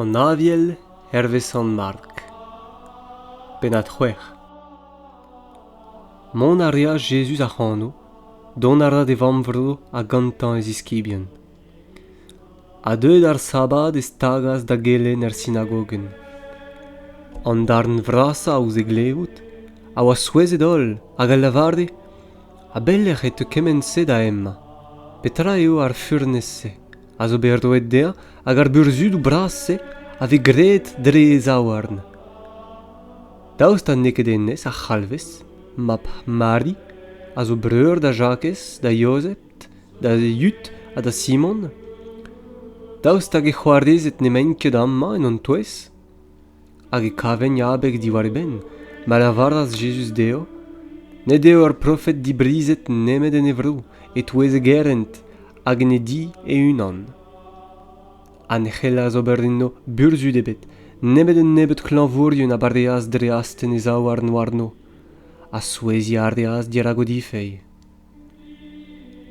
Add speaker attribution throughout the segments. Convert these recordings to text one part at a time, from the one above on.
Speaker 1: An Aviel hervez Sant-Mark Pennad-c'hwec'h Mont a reas Jezuz ac'hano, dont a ra d'e vamm-vro ha gantañ e ziskibien. Ha deuet ar sabad e stagas da gelenn er sinagogenn. An darn vrasañ ouzh e glevout a oa souezhet holl hag a lavare A-belec'h e teu kement-se da emañ? Petra eo ar furnez-se a zo bet roet dezhañ hag ar burzhudoù bras-se a vez graet dre e zaouarn? Daoust ha n'eo ket hennezh a c'halvez mab Mari, a zo breur da Jakez, da Yozef, da Yud ha da Simon? Daoust hag e c'hoarezed n'emaint ket amañ en hon touez? hag e kavent abeg diwar e benn, ma lavaras Jezuz dezho, Ne deo ar profed dibrizhet nemet en e vro, e-touez e gerent, hag en e di e-unan. Ha ne c'hellas ober enno burzhud ebet, nemet un nebeud klañvourien a bareas dre astenn e zaouarn warno, ha souezhiañ a reas dirak o difeilh.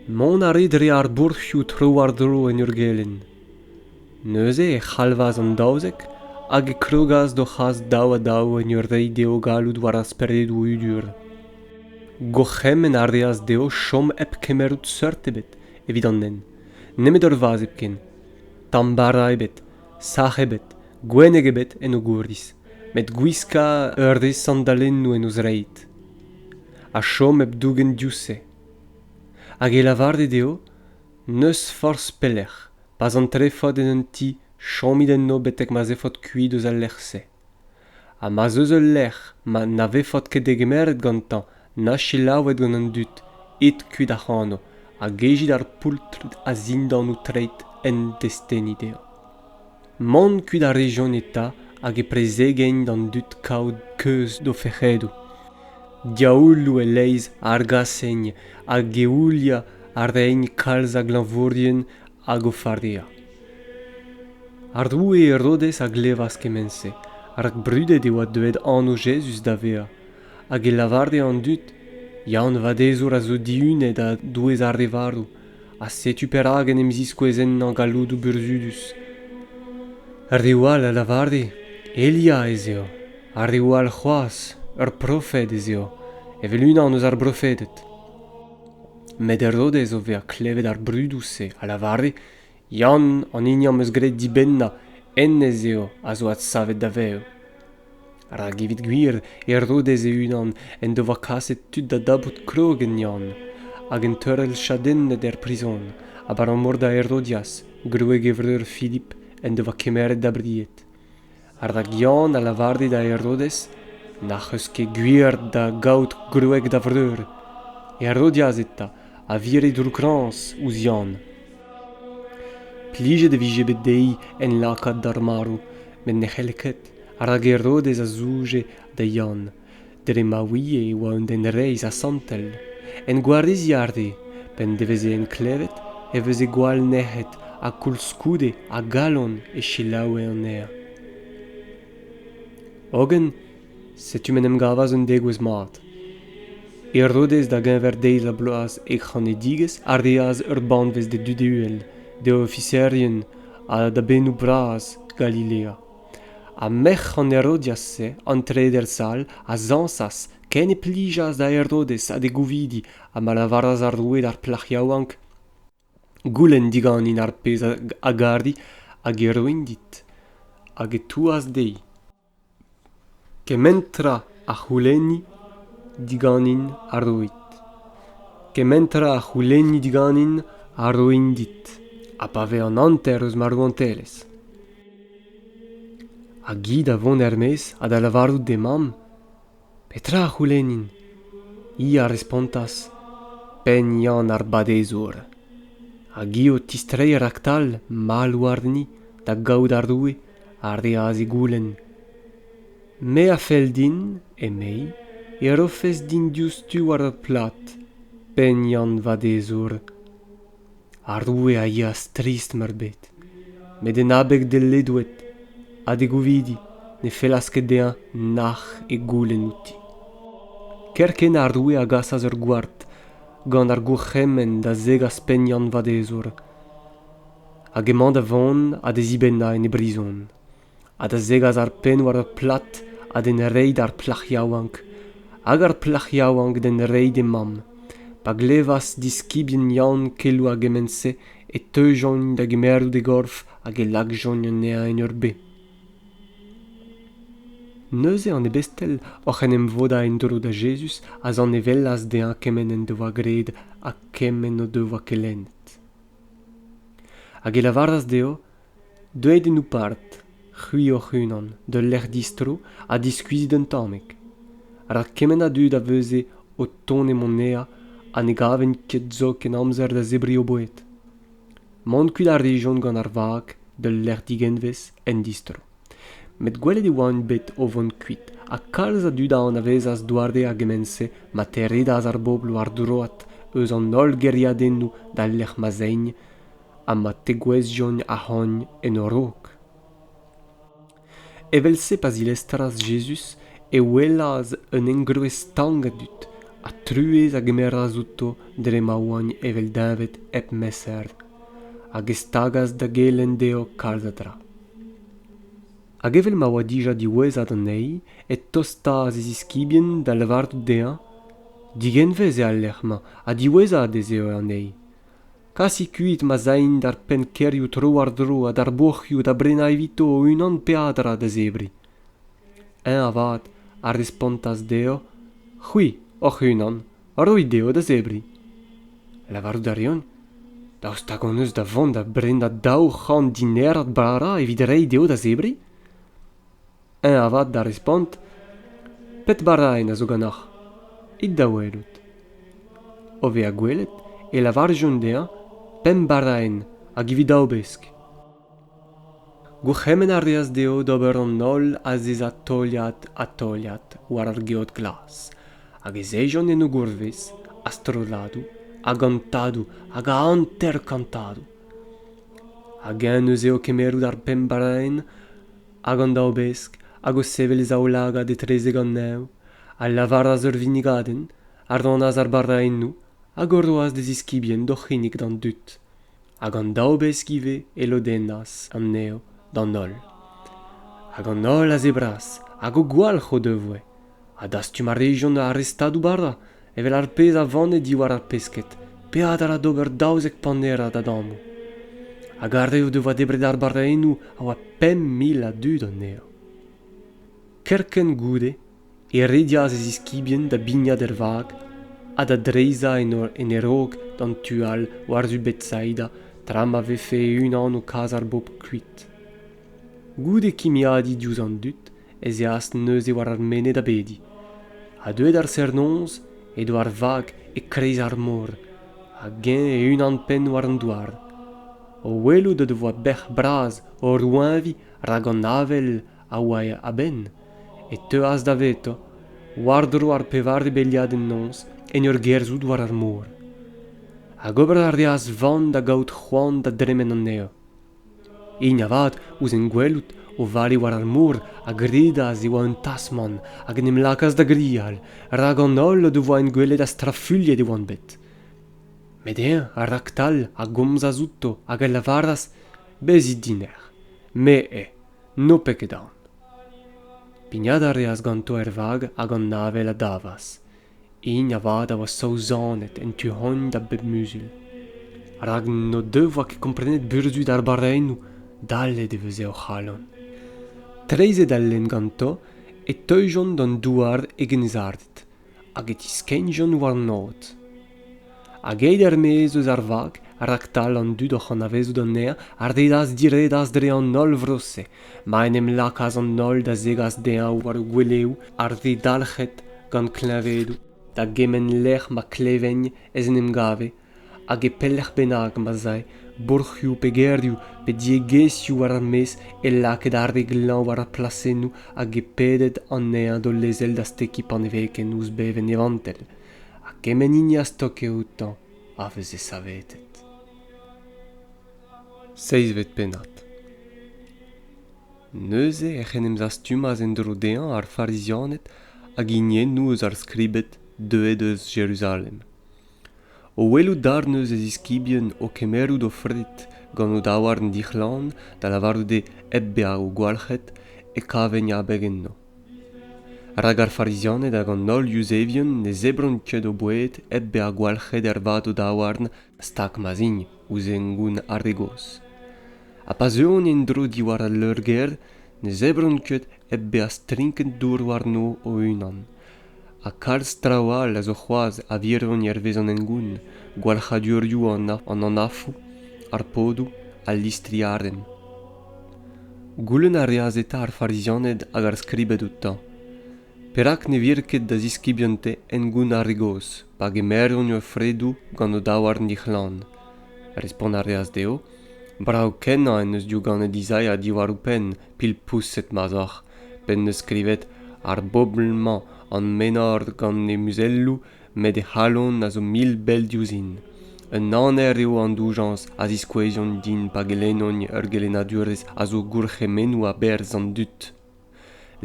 Speaker 1: Mont a rit dre ar bourc'hioù tro-war-dro en ur gelenn. Neuze e c'halvas an daouzek hag e krogas d'o c'has daou-ha-daou en ur reiñ dezho galloud war ar speredoù udur. Gourc'hemenn a reas dezho chom hep kemerout seurt ebet evit an nen, nemet ur vazh hepken. Tamm bara ebet, sac'h ebet, gwenneg ebet en o gouriz, met gwiskañ ur re sandalennoù en o zreid. a chom hep dougen diouzh-se hag e lavarit eo n'eus forzh pelec'h pa'z an trefod en un ti chomit enno betek ma 'z efot kuit eus al lec'h-se ha ma'z eus ul lec'h ma na vefot ket degemeret gantañ na selaouet gant an dud it kuit ac'hano ha gejit ar poultr a-zindan ho treid en desteni dezhañ Mont kuit a rejont eta hag e prezegent d'an dud kaout keuz d'o fec'hedoù. Diaouloù e-leizh a argasent hag eouliañ a raent kalz a glañvourien hag o farea. Ar roue Herodes a glevas kement-se, rak brudet e oa deuet anv Jezuz da vezañ, hag e lavare an dud, Ya an vadezour a zo dihunet a-douez ar re varv, ha setu perak en em ziskouez ennañ galloudoù burzhudus. Reoù all a lavare Elia ez eo, ha reoù all c'hoazh ur profed ez eo, evel unan eus ar brofeded. Met Herodez o vezañ klevet ar brudoù-se a lavare Yann an hini am eus graet dibennañ hennezh eo a zo adsavet da vev. Rak evit gwir e Rodez e-unan en devoa kaset tud da dapout krog en Yann hag un teurel chadennet er prizon abalamour da Herodias, gwreg e vreur Filip, en devoa kemeret da bried. rak Yann a lavare da Herodez n'ac'h eus ket gwir da gaout gwreg da vreur Herodias eta a vire droukkrañs ouzh Yann. Plijet e vije bet dezhi enlakaat d'ar marv met ne c'helle ket rak Herodez a zouje da Yann dre ma ouie e oa un den reizh ha santel en gwareziñ arre p'en deveze en klevet e veze gwall nec'het ha koulskoude a galon e selaoue anezhañ hogen setu m'en em gavas un degouezh mat herodez da geñver deiz ha bloaz e c'hanedigezh a reas ur banvez d'e dud uhel d'e ofiserien ha da bennoù bras galilea ha merc'h an herodias-se an treder sal a zañsas ken e plijas da herodes ha d'e gouvidi ha ma lavaras ar roue d'ar plac'h yaouank goulenn diganin ar pezh a gari hag e roin dit hag e touas dezhi kement tra a c'houlenni diganin a roit kement tra a c'houlenni diganin a roin dit ha pa vez an hanter eus ma rouantelezh Hag hi da vont er-maez ha da lavarout d'he mamm Petra a c'houlennin? Hi a respontas Penn Yann ar Badezour. Hag hi o tistreiñ raktal mall warni da gaout ar roue a reas e goulenn. Me a fell din, emei, e rofes din diouzhtu war ur plad, Penn Yann Vadezour. Ar roue a yeas trist-meurbet met en abeg d'e ledoued ha d'e gouvidi ne fellas ket dezhañ nac'h e goulenn outi. Kerkent ar roue a gasas ur gward gant ar gourc'hemenn da zegas pegnant vadezour hag emañ da vont ha da zibennañ en e brizon. ha da zegas ar penn war ur plad ha d'en reiñ d'ar plac'h yaouank hag ar plac'h yaouank d'en reiñ d'he mamm pa glevas diskibien yann keloù a gement-se e teujont da gemerout e gorf hag e lakjont anezhañ en ur bez. Neuze an ebestel oc'h en em vodañ en-dro da Jezuz a zanevellas dezhañ kement en devoa graet ha kement o devoa kelennet. Hag e lavaras dezho deuet en ho pad c'hwi hoc'h-unan d'ul lec'h distro ha diskuizit un tammig rak kement a dud a veuze o tont e monea ha ne gavent ket zoken amzer da zebriñ o boued mont kuit a rejont gant ar vag d'ul lec'h digenvez en distro met gwelet e oant bet o vont kuit ha kalz a dud a anavezas doare a gement-se ma teredas ar bobl war droad eus an holl gêriadennoù d'al lec'h ma zeigne ha ma tegouezhjont ahont en o raok. Evel-se pa zilestras Jezuz e welas un engroez stank a dud, ha truez a gemeras outo dre ma oant evel deñved hep meser, hag e stagas da gelenn dezho kalz a dra. Hag evel ma oa dija diwezhat anezhi, e tostas e ziskibien da lavarout dezhañ: Digenvez eo al lec'h-mañ ha diwezhat ez eo anezhi, kasit kuit ma zain d'ar pennkêrioù tro-war-dro ha d'ar boc'hioù da brenañ evito o-unan peadra da zebriñ eñ avat a respontas dezho c'hwi hoc'h-unan roit dezho da zebriñ lavarout a reont daoust hag hon eus da vont da brenañ daou c'hant dinerad bara evit reiñ dezho da zebriñ eñ avat da respont pet baraenn a zo ganeoc'h it da welout o vezañ gwelet e lavarjont dezhañ pemp baraenn hag evit daou besk gourc'hemenn a reas dezho d'ober an holl azezañ teuliad ha teuliad war ar geot glas hag ez ejont en o gourvez a-strolladoù a gantadoù hag a hanter-kantadoù hag eñ neuze o kemmerout ar pemp baraenn hag an daobesk hag o sevel e zaoulagad etrezek an neñv a lavaras ur vinnigadenn a rannas ar baraennoù hag o roas d'e ziskibien d'o c'hinnig d'an dud hag an daobesk ivez e lodennas anezho d'an holl hag an holl a zebras hag o gwalc'h o devoe ha dastum a rejont ar re stadoù-bara evel ar pezh a vane diwar ar pesked peadra d'ober daouzek panerad adamo hag ar re o devoa debret ar barrennoù a oa pemp mil a dud anezhañ kerkent goude e redias e ziskibien da bignat er vag ha da dreizhañ en e raok d'an tu all war-zu betsaida tra ma vefe e-unan o kas ar bobl kuit goude kimiadiñ diouzh an dud ez eas neuze war ar menez da bediñ ha deuet ar serr-noz edo ar vag e-kreiz ar mor hag eñ e-unan-penn war an douar o welout o devoa bec'h bras o roeñviñ rak an avel a oa a-benn e teuas davetañ war-dro ar pevare beliadenn-noz en ur gerzhout war ar mor hag ober a reas van da gaout c'hoant da dremen anezhañ hini avat ouzh en gwelout o vale war ar mor a gredas e oa un tasmant hag en em lakaas da grial rak an holl o devoa en gwelet ha strafuilhet e oant bet met eñ raktal a gomzas outo hag a lavaras bezit dinec'h me eo n'ho pet ket aon pignat a reas ganto er vag hag an avel a davas hini avat a oa saozanet en tu-hont da bep muzul rak n'o devoa ket komprenet burzhud ar barrennoù dallet e veze o c'halon treizhet al lenn ganto e teujont d'an douar e genizarded hag e tiskennjont warnaod hag aet er-maez eus ar vag raktal an dud oc'h anavezout anezhañ a redas diredas dre an holl vro-se ma en em lakaas an holl da zegas dezhañ war o gweleoù ar re dalc'het gant kleñvedoù da gement lec'h ma klevent ez en em gave hag e pelec'h bennak ma'z ae bourc'hioù pe gêrioù pe diegezhioù war ar maez e lakaed ar re glañv war ar plasennoù hag e peded anezhañ d'o lezel da stekiñ paneveken ouzh bevenn e vantell ha kement hini a stoke outañ a veze savetet. Seizvet pennad Neuze ec'h en em zastumas en-dro dezhañ ar Farizianed hag hiniennoù eus ar Skribed deuet eus Jeruzalem. O welout darn eus e ziskibien o kemerout o fred gant o daouarn dic'hlan da lavarout eo hep bezañ gwalc'het, e kavent abeg enno. rak ar farizianed hag an holl yuzevien ne zebront ket o boued hep bezañ gwalc'het ervat o daouarn stag ma'z int ouzh hengoun ar re gozh ha pa zeuont en-dro diwar al leur-gêr ne zebront ket hep bezañ strinket dour warno o-unan ha kalz traoù all a zo c'hoazh a virvont hervez an hengoun gwalc'hadurioù an anafoù ar podoù al listriadenn goulenn a reas eta ar farizianed hag ar skribed outañ perak ne vir ket da ziskibien-te hengoun ar re gozh pa gemeront o fredoù gant o daouarn dic'hlan respont a reas dezho brav-kenañ en deus diouganet Izaia diwar o penn pilpoused ma 'z oc'h p'en deus skrivet ar bobl-mañ an menor gant he muzelloù met he c'halon a zo mil bell diouzhin un aner eo an doujañs a ziskoueziont din pa gelennont ur gelennadurezh a zo gourc'hemennoù a-berzh an dud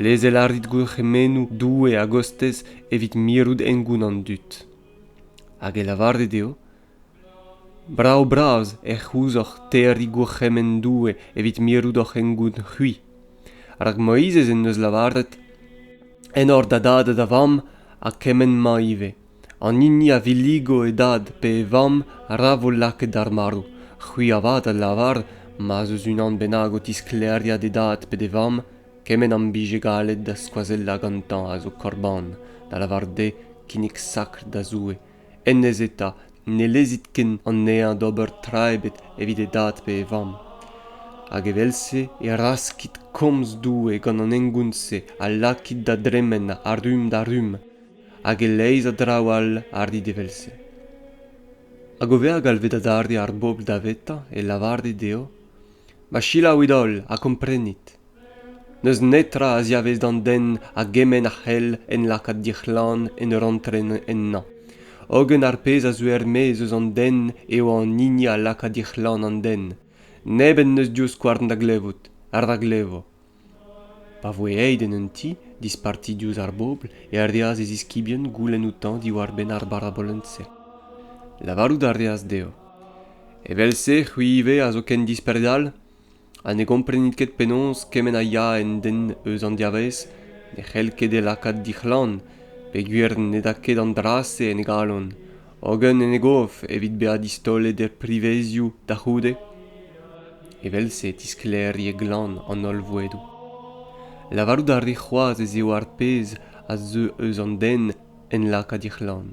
Speaker 1: lezel a rit gourc'hemennoù doue a-gostez evit mirout hengoun an dud hag e lavarit eo Brav-bras ec'h ouzoc'h terriñ gourc'hemenn Doue evit mirout hoc'h hengoun c'hwi. Rak Moizez en deus lavaret enor da dad ha da vamm, ha kement-mañ ivez. An hini a villigo e dad pe e vamm ra vo lakaet d'ar marv. C'hwi avat a lavar ma'z eus unan bennak o tisklêriañ d'e dad pe d'e vamm kement am bije gallet da skoazellañ gantañ a zo korban, da lavaret eo kinnig sakr da Zoue. hennezh eta ne lezit ken anezhañ d'ober tra ebet evit e dad pe e vamm hag evel-se e raskit komz Doue gant an hengoun-se ha lakit da dremen a rumm da rumm hag e-leizh a draoù all a rit evel-se hag o vezañ galvet adarre ar bobl davetañ e lavarit dezho ma selaouit holl ha komprenit n'eus netra a ziavez d'an den a gement a c'hell en lakaat dic'hlan en ur antren ennañ hogen ar pezh a zeu er-maez eus an den eo an hini a laka dic'hlan an den neb en deus divskouarn da glevout ar ra glevo pa voe aet en un ti disparti diouzh ar bobl e reas e ziskibien goulenn outañ diwar-benn ar barabolenn-se lavarout a reas dezho evel-se c'hwi ivez a zo ken dispred all ha ne gomprenit ket penaos kement a ya en den eus an dervezh ne c'hell ket e lakaat dic'hlann peogwir ned a ket an dra-se en e galon hogen en e gof evit bezañ distaolet er privezioù da c'houde evel-se e tisklêri e glann an holl vouedoù lavarout a ri c'hoazh ez eo ar pezh a zeu eus an den en laka dic'hlann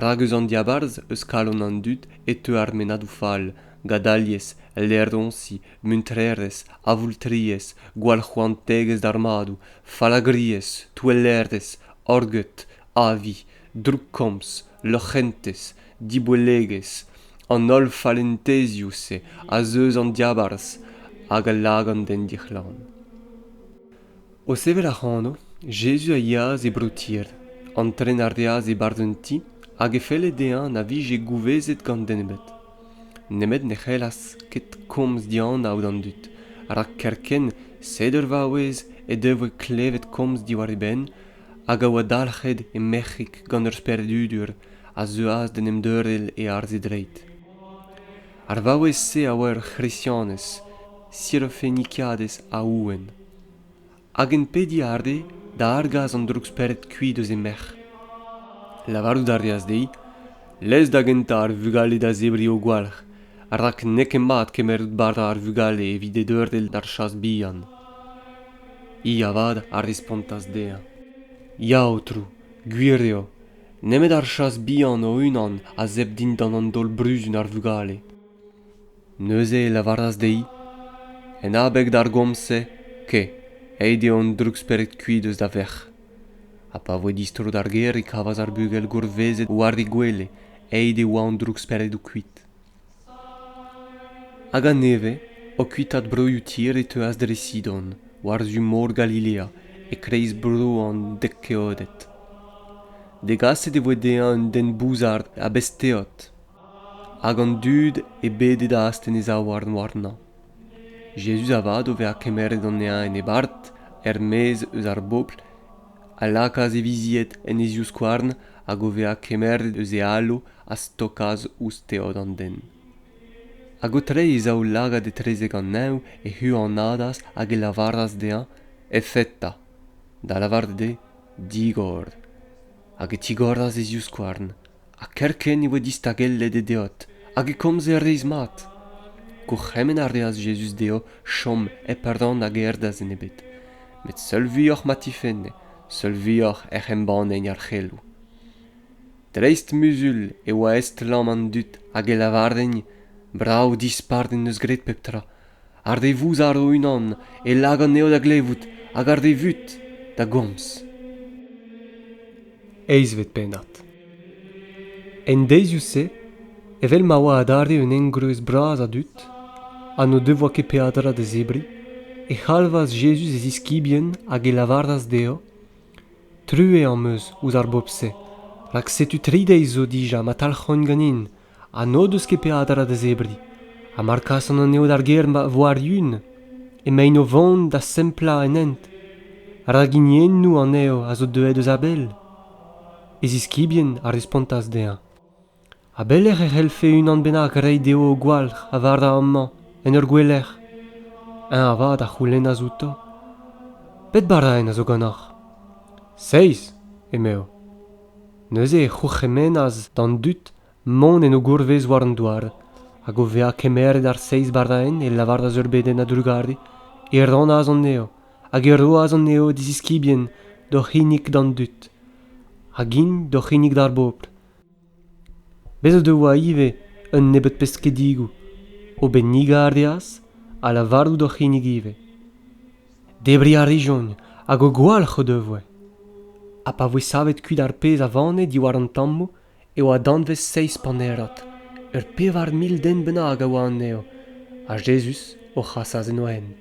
Speaker 1: rak eus an diabarzh eus kalon an dud e teu ar mennadoù fall gadaliezh laeroñsi muntrerezh avoultriezh gwallc'hoantegezh d'ar madoù fallagriezh touellerezh orgeud avi droukkomz loc'hentez diboellegezh an holl fallentezioù-se az eus an diabarzh hag a lagan d'en dic'hlan O sevel ac'hano, Jezuz a yeas e bro-Tir, antren a reas e-barzh un ti hag e felle dezhañ na vije gouvezet gant den ebet. Nemet ne c'hellas ket komz dianav d'an dud, rak kerkent, sed ur vaouez he devoe klevet komz diwar e benn hag a oa dalc'het he merc'hig gant ur speredudur, a zeuas d'en em deurel e arz e dreid. Ar vaouez-se a oa ur C'hresianez, Sirofenikaadez a ouenn. Hag-eñ pediñ a rê da argas an droug-spered kuit eus he merc'h. Lavarout a reas dezhi lez da gentañ ar vugale da zebriñ o gwalc'h, rak n'eo ket mat kemeret bara ar vugale evit dedeurel d'ar chas bihan. Hi avat a respontas dezhañ Ya, Aotrou, gwir eo. Nemet ar chas bihan o-unan a zebr dindan an daol-bruzun ar vugale. Neuze e lavaras dezhi, En abeg d'ar gomz-se, kae, aet eo an droug-spered-kuit eus da verc'h. Ha pa voe distro d'ar gêr e kavas ar bugel gourvezet war he gwele, aet e oa an droug-speredoù kuit. Hag a-nevez, o kuitaat broioù Tir e teuas dre Sidon, war-zu mor Galilea, e-kreiz bro an dek keoded. Degaset e voe dezhañ un den bouzard a-bez-teod, Hag an dud e bedet astenn e zaouarn warnañ. Jezuz avat, o vezañ kemeret anezhañ en e barrt, er-maez eus ar bobl, a lakaas e vizied en e zivskouarn hag o vezañ kemeret eus e alo a stokas ouzh teod an den. Hag o treiñ e zaoulagad etrezek an neñv, e huanadas hag e lavaras dezhañ Efeta, da lavaret eo Digor. Hag e tigoras e zivskouarn, ha kerkent e oa distagellet e deod hag e komze reizh-mat gourc'hemenn a reas Jezuz dezho chom hep rann hag erdas enebet met seul vuioc'h ma tifenne seul vuioc'h ec'h embannent ar c'heloù dreist-muzul e oa estlamm an dud hag e lavarent brav dispard en deus graet pep tra ar re vouzar o-unan e lak anezho da glevout hag ar re vut da gomz. Eizhvet pennad En deizioù-se, evel ma oa adarre un engroez bras a dud ha n'o devoa ket peadra da zebriñ, e c'halvas Jezuz e ziskibien hag e lavaras dezho, Truez am eus ouzh ar bobl-se, rak setu tri deiz zo dija ma talc'hont ganin ha n'o deus ket peadra da zebriñ ha mar kasan anezho d'ar gêr ma vo ar-yun emaint o vont da semplañ en hent rak hiniennoù anezho a zo deuet eus a-bell e ziskibien a respontas dezhañ a-belec'h e c'hellfe unan bennak reiñ dezho o gwalc'h a vara amañ en ur gouelec'h eñ avat a c'houlennas outo pet baraenn a zo ganeoc'h seizh emezo Neuze e c'hourc'hemennas d'an dud mont en o gourvez war an douar, hag o vezañ kemeret ar seizh baraenn e lavaras ur bedenn a-drugarez, e rannas anezho, hag e roas anezho diziskibien d'o c'hinnig d'an dud, hag int d'o c'hinnig d'ar bobl. Bez' o devoa ivez un nebeud peskedigoù. O bennigañ a reas, ha lavarout o c'hinnig ivez. Debriñ a rijont hag o gwalc'h o devoe. Ha pa voe savet kuit ar pezh a vane diwar an tammoù e oa danvez seizh panerad, ur pevar mil den bennak a oa anezho, ha Jezuz o c'hasas en o hent.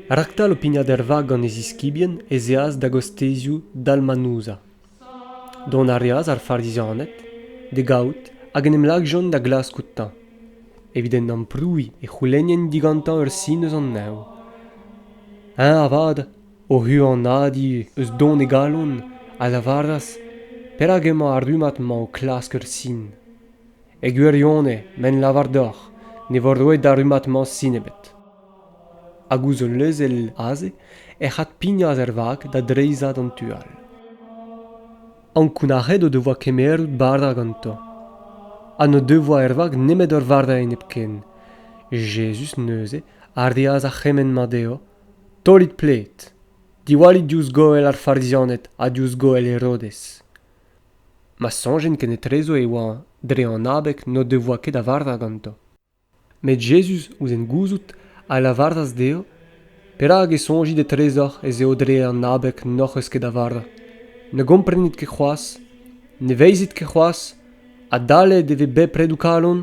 Speaker 1: Raktal o pignat er vag gant e ziskibien ez eas da gostezioù Dalmanouza. Dont a reas ar Farizianed d'e gavout hag en em lakjont da glask outañ, evit en amprouiñ e c'houlennent digantañ ur sin eus an neñv. Eñ avat, o huanadiñ eus don e galon, a lavaras perak emañ ar rummad-mañ o klask ur sin. E gwirionez, ma en lavar deoc'h ne vo roet d'ar rummad-mañ sin ebet. Hag ouzh ul lezenn aze ec'h adpignas ar vag da dreizhañ d'an tu all. Ankounac'het o devoa kemeret bara gantañ ha n'o devoa er vag nemet ur vardailh nepken. Jezuz neuze a reas ar c'hemenn-mañ dezho, Taolit pled, diwallit diouzh goell ar Farizianed ha diouzh goell Herodez. Ma soñjen ken etrezo e oa dre an abeg n'o devoa ket a varva gantañ. Met Jezuz, ouzh en gouzout, a lavaras dezhañ, Perak e soñjit etrezoc'h ez eo dre an abeg n'hoc'h eus ket a vara? Ne gomprenit ket c'hoazh? Ne veizit ket c'hoazh? Adalek e ve bepred ho kalon?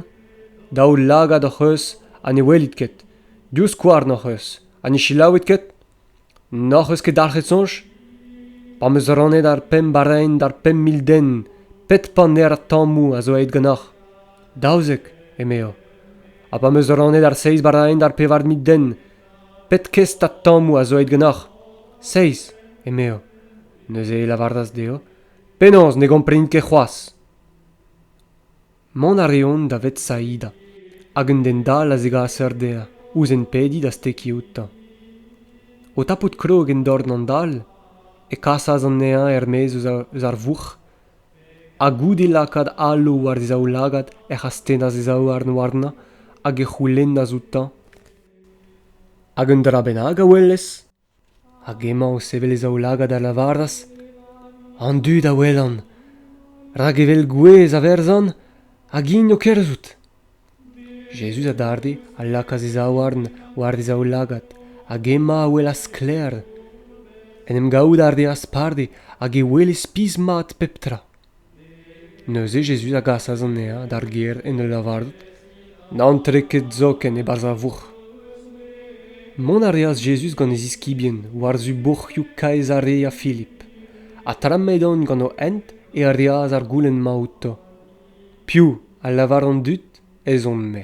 Speaker 1: Daou lagad hoc'h eus ha ne welit ket. Div skouarn hoc'h eus. Ha ne selaouit ket? N'hoc'h eus ket dalc'het soñj? Pa 'm eus rannet ar pemp araen d'ar pemp mil den, pet paner tammoù a zo aet ganeoc'h? Daouzek, emezo. Ha pa 'm eus rannet ar seizh baraen d'ar pevar mil den, pet kestad tammoù a zo aet ganeoc'h? Seizh, emezo. Neuze e lavaras dezho, penaos ne gomprenit ket c'hoazh ? Mont a reont da Vetsaida, hag un den dall a zegas eur dezhañ ouzh enpediñ da stekiñ outañ. O tapout krog en dorn an dall, e kasas anezhañ er-maez eus ar vourc'h, ha goude lakaat alo war e zaoulagad ec'h astennas e zaouarn warnañ hag e c'houlennas outañ: Hag un dra bennak a welez? Hag emañ o sevel e zaoulagad a lavaras an dud a welan, rak evel gouez a verzan, hag int o kerzhout. Jezuz adarre a lakaas e zaouarn war e zaoulagad hag emañ a welas sklaer. En em gavout a reas parde hag e wele spis-mat pep tra. Neuze Jezuz a gasas anezhañ d'ar gêr en ul lavarout, N'antre ket zoken e-barzh ar vourc'h. Mont a reas Jezuz gant e ziskibien war-zu bourc'hioù kaezh ar re a Filip, ha tra m'edont gant o hent e reas ar goulenn-mañ outo, Piv a lavar an dud ez on-me?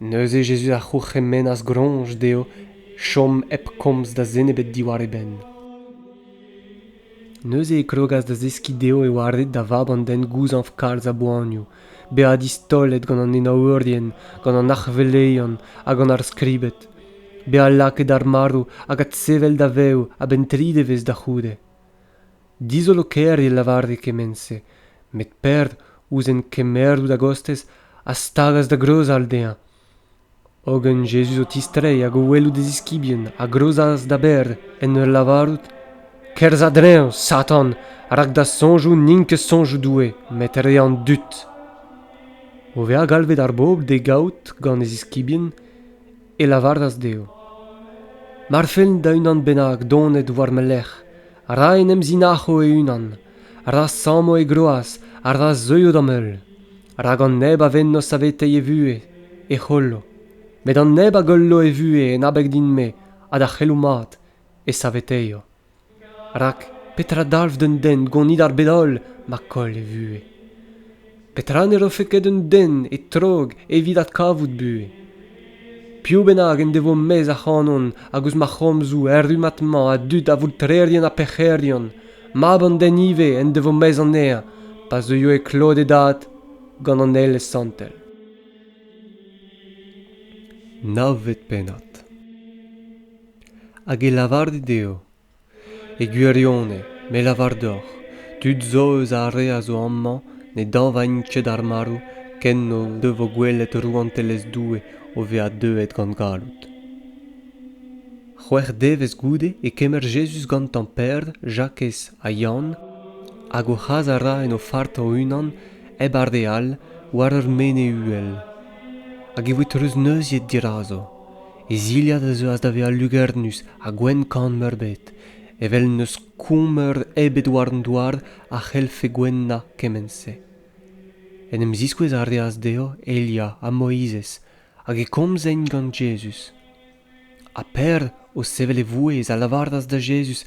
Speaker 1: Neuze Jezuz a c'hourc'hemennas groñs dezho chom hep komz da zen ebet diwar e benn. Neuze e krogas da zeskiñ dezho e oa ret da vab an den gouzañv kalz a boanioù, bezañ distaolet gant an enaourien, gant an arc'heveleion ha gant ar skribed, bezañ lakaet ar marv hag adsevel da vev a-benn tri devezh da c'houde. dizolo-kaerien lavare kement-se met perd ouzh en kemerout a-gostez a stagas da greuzal dezhañ hogen jezuz o tistreiñ hag o welout e ziskibien a greuzas da berr en ur lavarout kerzh a-dreñv satan rak da soñjoù n'int ket soñjoù Doue met re an dud o vezañ galvet ar bobl d'e gaout gant e ziskibien e lavaras dezho mar fellen da unan bennak donet war ma lerc'h ra en em zinac'ho e-unan ra samo e groaz ha ra zeuio d'am heul rak an neb a venno saveteiñ e vuhez e c'hollo met an neb a gollo e vuhez en abeg din-me ha da c'heloù mat e saveteio rak petra dalv d'un den gonit ar bed holl ma koll e vuhez petra ne rofe ket d'un den e trog evit adkavout buhez piv bennak en devo maez ac'hanon hag ouzh ma c'homzoù errumat-mañ a dud avoultrerien ha pec'herion mab an den ivez en devo maez anezhañ pa zeuio e klod e dad gant an elez santel navet pennad hag e lavarit dezho e gwirionez me lavar deoc'h tud zo eus ar re a zo amañ ne dañvaint ket ar marv ken o devo gwelet rouantelezh Doue o vezañ deuet gant galloud. C'hwec'h devezh goude e kemer Jezuz gantañ Peder, Jakez ha Yann hag o c'has a ra en o fart o-unan hep ar re all war ur mene uhel. Hag e voe treuzneuziet dirazo. e zilhad a zeuas da vezañ lugernus ha gwenn-kann meurbet evel n'eus koumeur ebet war an douar a c'hellfe gouennañ kement-se en em ziskouez a reas dezho Elia ha Moizez hag e komzent gant Jezuz ha Per, o sevel e vouezh, a lavaras da Jezuz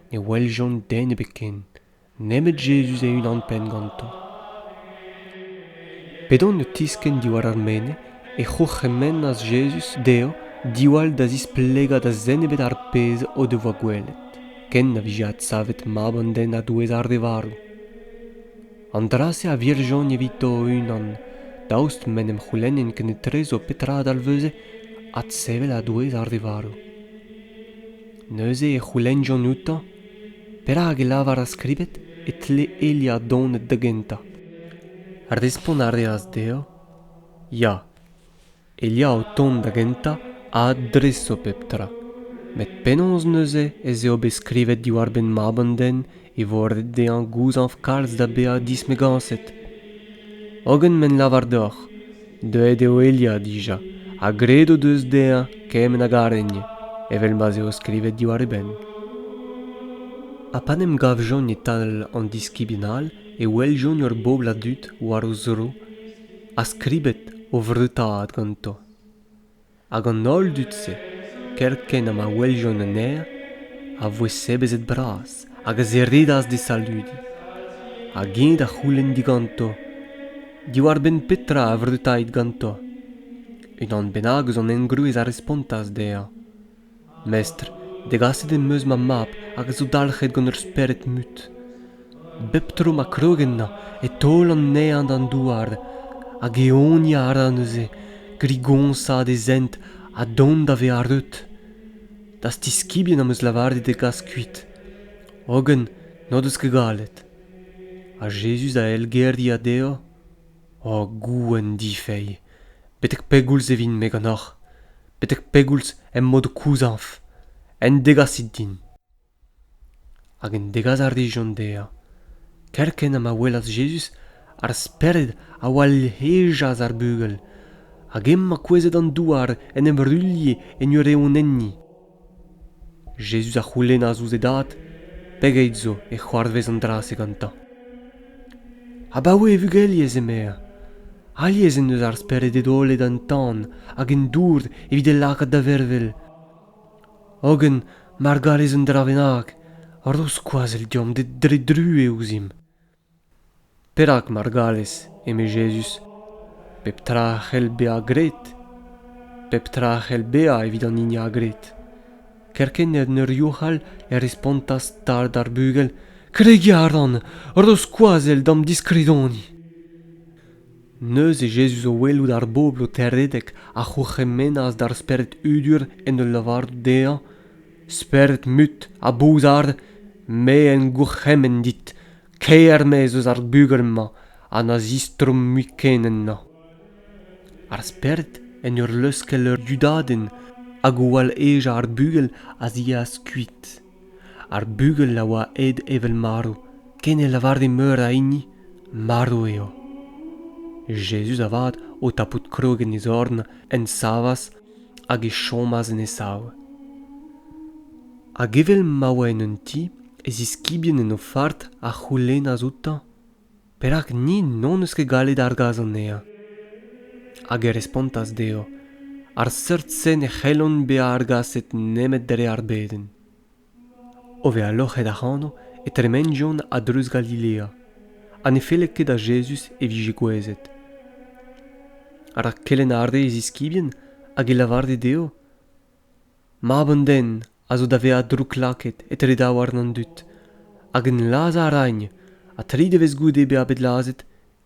Speaker 1: ne weljont den ebet ken nemet Jezuz e-unan-penn ganto. P'edont o tiskenn diwar ar menez e c'hourc'hemennas Jezuz dezho diwall da zisplegañ da zen ebet ar pezh o devoa gwelet, ken na vije adsavet mab an den a-douez ar re varv. An dra-se a virjont evito o-unan, daoust m'en em c'houlennent kenetrezo petra a dalveze adsevel a-douez ar re varv. Neuze e c'houlennjont outañ perak e lavar ar skribed e tle Elia donet da gentañ. Respont a reas dezhañ ya, Elia o tont da gentañ a adreso pep tra. Met penaos neuze ez eo bet skrivet diwar-benn mab an den e vo ret dezhañ gouzañv kalz da bezañ dismegañset? Hogen m'en lavar deoc'h Deuet eo Elia dija ha graet o deus dezhañ kement a garegn evel ma'z eo skrivet diwar e benn. Ha pa 'n em gavjont e-tal an diskibien all e weljont ur bobl a dud war o zro ha skribet o vreutaat ganto. hag an holl dud-se kerkent ha ma weljont an aer a voe sebezet bras hag a ziridas d'e saludiñ hag eñ da c'houlenn diganto diwar-benn petra a vreutait ganto unan bennak eus an engroez a respontas dezhañ Mestr, degaset em eus ma mab hag a zo dalc'het gant ur spered mut. Bep tro ma krog ennañ e taol anezhañ d'an douar hag eoniañ a ra neuze, grigoñsaat e zent ha dont da vezañ reut. D'az tiskibien am eus lavaret e gas kuit, hogen n'o deus ket gallet. Ha Jezuz a elgeriañ dezho, O gouenn difeilh, betek pegoulz e vin-me ganeoc'h? betek pegoulz em boa o kouzañv en degasit din hag en degas a rijont dezhañ kerkent ha ma welas Jezuz ar Spered a oa hejas ar bugel hag emañ kouezhet an douar en em ruilhe en ur eeunenniñ Jezuz a c'houlennas ouzh e dad pegeit zo e c'hoarvez an dra-se gantañ. Abaoe e vugeliez emaer. Alies en deus ar Spereded holet an tan hag an dour evit e lakaat da vervel. Hogen, mar garez un dra bennak, ro skoazell deomp dre druez ouzhimp. Perak mar gallez, eme Jezuz, pep tra a c'hell bezañ graet? Pep tra a c'hell bezañ evit an hini a gred. Kerkent en ur youc'hal e respontas stard ar bugel, Kregiñ a ran, ro skoazell d'am diskridoni. Neuze Jezuz o welout ar bobl o terredek a c'hourc'hemennas d'ar spered hudur en ul lavarout dezhañ, Spered-mut ha bouzar, me en gourc'hemenn dit, kaer-mezv eus ar bugel-mañ ha na zistroomp mui ken ennañ. Ar spered, en ur leuskel ur dudadenn hag o wall-ejañ ar bugel, a yeas kuit. Ar bugel a oa aet evel marv, ken ne lavare meur a hini marv eo. Jezuz avat, o tapout krog en e zorn, en savas hag e chomas en e sav. Hag evel ma oa en un ti, e ziskibien en o fard a c'houlennas outañ perak ni n'hon eus ket gallet argas anezhañ. Hag e respontas dezho ar seurt-se ne c'hellont bezañ argaset nemet dre ar bedenn. O vezañ loc'het ac'hano e tremenjont a-dreuz Galilea ha ne felle ket da Jezuz e vije gouezet. Rak kelenn a rê e ziskibien hag e lavare dezho, Mab an den a zo da vezañ drouklakaet etre daouarn an dud, hag en lazhañ a raint, ha tri devezh goude bezañ bet lazhet,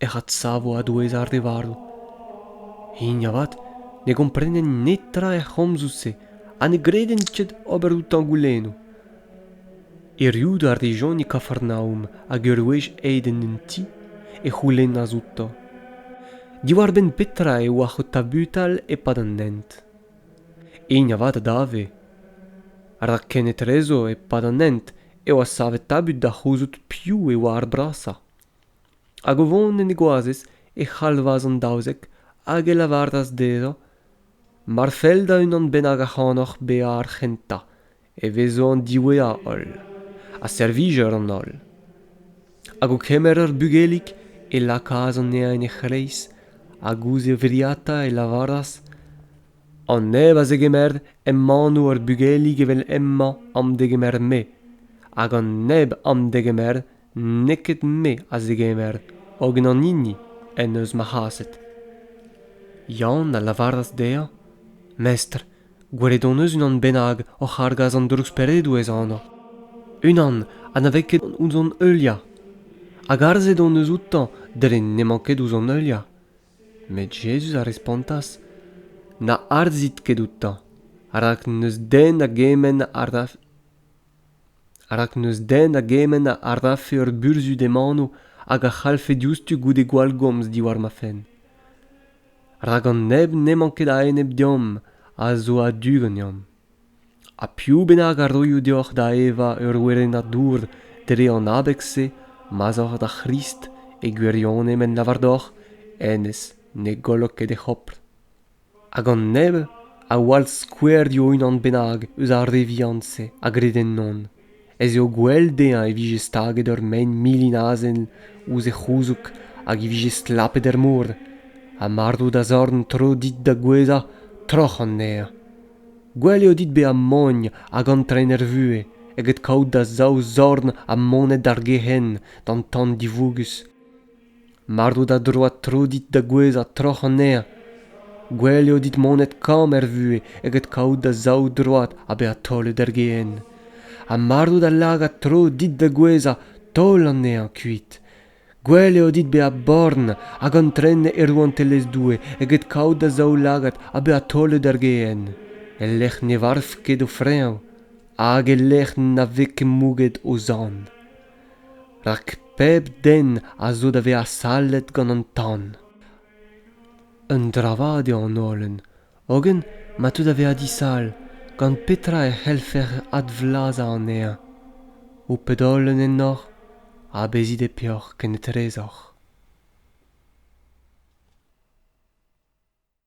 Speaker 1: ec'h adsavo a-douez ar re varv. Hini avat ne gomprenent netra er c'homzoù-se ha ne gredent ket ober outañ goulennoù. Erruout a rejont e Kafarnaoum hag ur wech aet en un ti e c'houlennas outañ diwar-benn petra eo ar c'ho tabutal e-pad an hent. Hini avat a dave. Rak kenetrezo, e-pad an hent, eo savet tabut da c'houzout piv e oa ar brasañ. hag o vont en e goazez e c'halvas an daouzek hag e lavaras dezhañ mar fell da unan bennak ac'hanoc'h bezañ ar c'hentañ e vezo an diwezhañ holl ha servijer an holl hag o kemer ur bugelig e lakaas anezhañ en e c'hreiz hag ouzh e wriata e lavaras an neb a zegemer emañ ur bugelig evel hemañ am degemer-me hag an neb am degemer n'eo ket me a zegemer hogen an hini en deus ma c'haset Yann a lavaras dezhañ Mestr, gwelet hon eus unan bennak oc'h argas an drouksperedoù ez anv. Unan ha na vez ket ouzh hon heuliañ. Hag arzhet hon eus outañ dre n'emañ ket ouzh hon heuliañ. Met Jezuz a respontas Na arzhit ket outañ, rak n'eus den a gement a raf rak n'eus den a gement a rafe ur burzhud em anv hag a c'hallfe diouzhtu goude gwallgomz diwar ma fenn rak an neb n'emañ ket a-enep deomp a zo a-du ganeomp ha piv bennak a roio deoc'h da evañ ur werennad dour dre an abeg-se ma'z oc'h da C'hrist e gwirionez m'en lavar deoc'h hennezh ne gollok ket e c'hopr hag an neb a wall skouerioù unan bennak eus ar re vihan-se a gred ennon ez eo gwell dezhañ e vije staget ur mein milin azen ouzh e c'houzoug hag e vije stlapet er mor ha marv da zorn tro dit da gouezhañ troc'h anezhañ gwell eo dit bezañ mogn hag antren er vuhez eget kaout da zaou zorn ha monet d'ar gehent d'an tan divougus Mard out a-droad tro dit da gouezhañ troc'h anezhañ gwell eo dit monet kamm er vuhez eget kaout da zaou droad ha bezañ taolet er gehen ha mard out a lagad tro dit da gouezhañ taol anezhañ kuit gwell eo dit bezañ born hag antren e rouantelezh Doue eget kaout da zaoulagad ha bezañ taolet er gehen e-lec'h ne varv ket o freñv hag e-lec'h na vez ket mouget o zorn. rak pep den a zo da vezañ sallet gant an tan un dravad eo an holen hogen ma teu da vezañ disal gant petra e c'hellfec'h advlazañ anezhañ ho ped-holen ennoc'h ha bezit e peoc'h kennetrezoc'h